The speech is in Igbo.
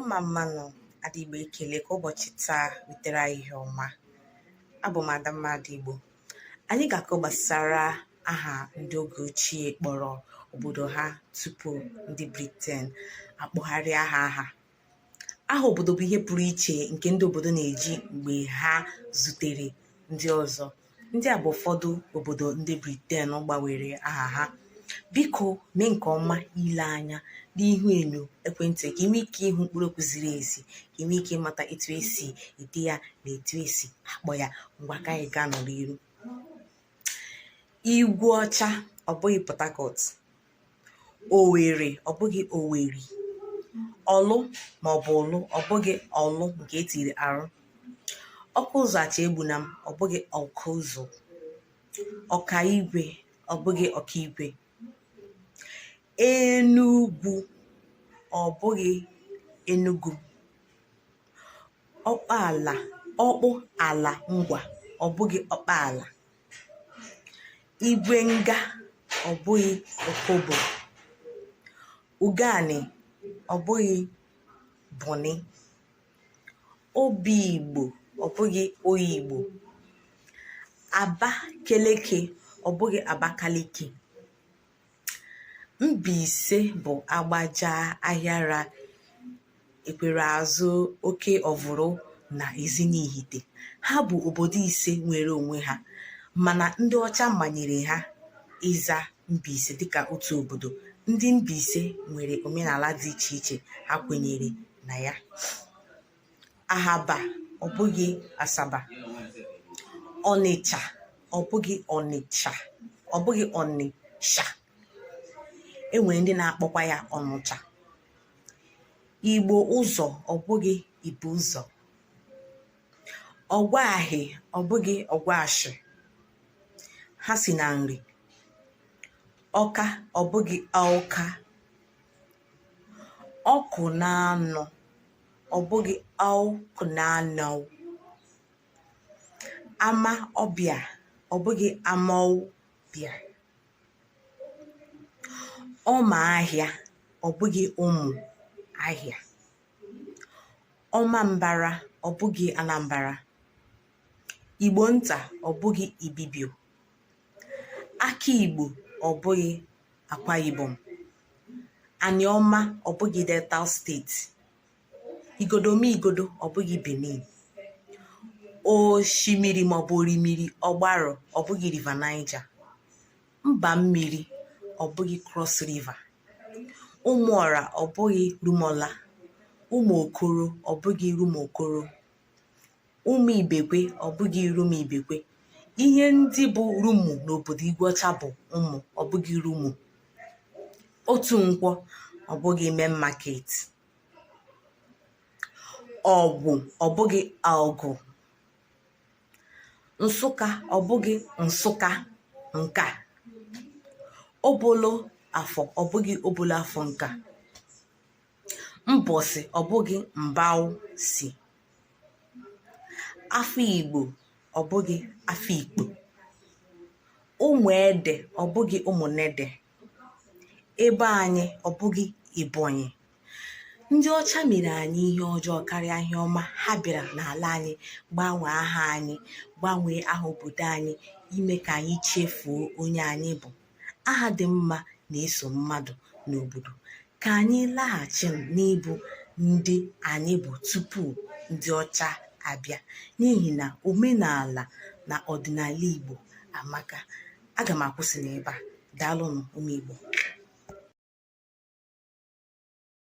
mma mma nụ Adaigbo ekele ka ụbọchị taa wetara anyị ihe ọma abụ m Adamma Adaigbo anyị ga-akọ gbasara aha ndị oge ochie kpọrọ obodo ha tupu ndị Briten akpọgharịa ha aha aha obodo bụ ihe pụrụ iche nke ndị obodo na-eji mgbe ha zutere ndị ọzọ Ndị a bụ ụfọdụ obodo ndị Briten gbanwere aha ha. Biko mee nke ọma ile anya n'ihu enyo ekwentị ka ị nwee ike ịhụ mkpụrụ okwu ziri ezi, ka ị nwee ike ịmata etu esi ede ya na etu esi akpọ ya. Ngwa ka anyị gaa n'ọrụ iru. Igwu ọcha ọ bụghị Port Owere ọ bụghị Owerri. Ọlụ ma ọ bụ ụlụ ọ bụghị Orlu nke e tiri R. Ọkụ ụzọ achagbuna m ọ bụghị Awkuzu. Ọka igwe ọ bụghị Okigwe. Enugwu ọ bụghị Enugu. Ọkpa ala ọkpụ ala ngwa ọ bụghị Ọkpala. igwe nga ọ bụghị opobo ubani ọ bụghị bonny obi igbo ọ bụghị oyigbo abakeleke ọ bụghị abakaliki Mbaise bụ agbaja ahịara ekwere azụ oke ọvụrụ na Ezinihite. Ha bụ obodo ise nwere onwe ha mana ndị ọcha manyere ha ịza Mbaise dịka otu obodo. Ndị Mbaise nwere omenala dị iche iche ha kwenyere na ya. ahaba ọ bụghị asaba ọnịcha ọ bụghị ọnịcha ọ bụghị onitsha enwere ndị na-akpọkwa ya ọnụcha igbo ụzọ ọ bụghị ibuzọ ọgwa ahị ọ bụghị ọgwashị ha si na nri ọka ọ bụghị awka ọkụ na anọ ọ bụghị awkunanaw ama ọbịa ọ bụghị amawbia ọma ahịa ọ bụghị ụmụahịa ọma mbara ọ bụghị anambra igbo nta ọ bụghị ibibio Aka Igbo ọ bụghị Akwa Ibom. Aniọma ọ bụghị Delta steeti. Igodomigodo ọ bụghị Benin. Oshimiri maọbụ Orimiri Ọgbarụ ọ bụghị River Niger. Mba mmiri ọ bụghị Cross River. Ụmụọra ọ bụghị Rumuọla. Ụmụ Okoro ọ bụghị Rumuokoro. Ụmụ Ibekwe ọ bụghị Rumu Ibekwe. Ihe ndị bụ Rumu n'obodo Igweọcha bụ ụmụ ọ bụghị Rumu. Otu Nkwọ ọ bụghị Main Market. Ọgwụ ọ bụghị Awgu. Nsụka ọ bụghị Nsụka nka. Obolo Afọ ọ bụghị Obolo Afọ nka. mbọsị ọ bụghị mbawsi afọ igbo ọ bụghị afọ ikpo ụmụ ede ọ bụghị ụmụnede ebe anyị ọ bụghị ebonyi ndị ọcha mere anyị ihe ọjọọ karịa ihe ọma ha bịara n'ala anyị gbanwee aha anyị gbanwee aha obodo anyị ime ka anyị chefuo onye anyị bụ aha dị mma na-eso mmadụ n'obodo ka anyị laghachi n'ịbụ ndị anyị bụ tupu ndị ọcha abịa n'ihi na omenala na ọdịnala Igbo amaka aga m akwụsị n'ebe a daalụnụ ụmụ Igbo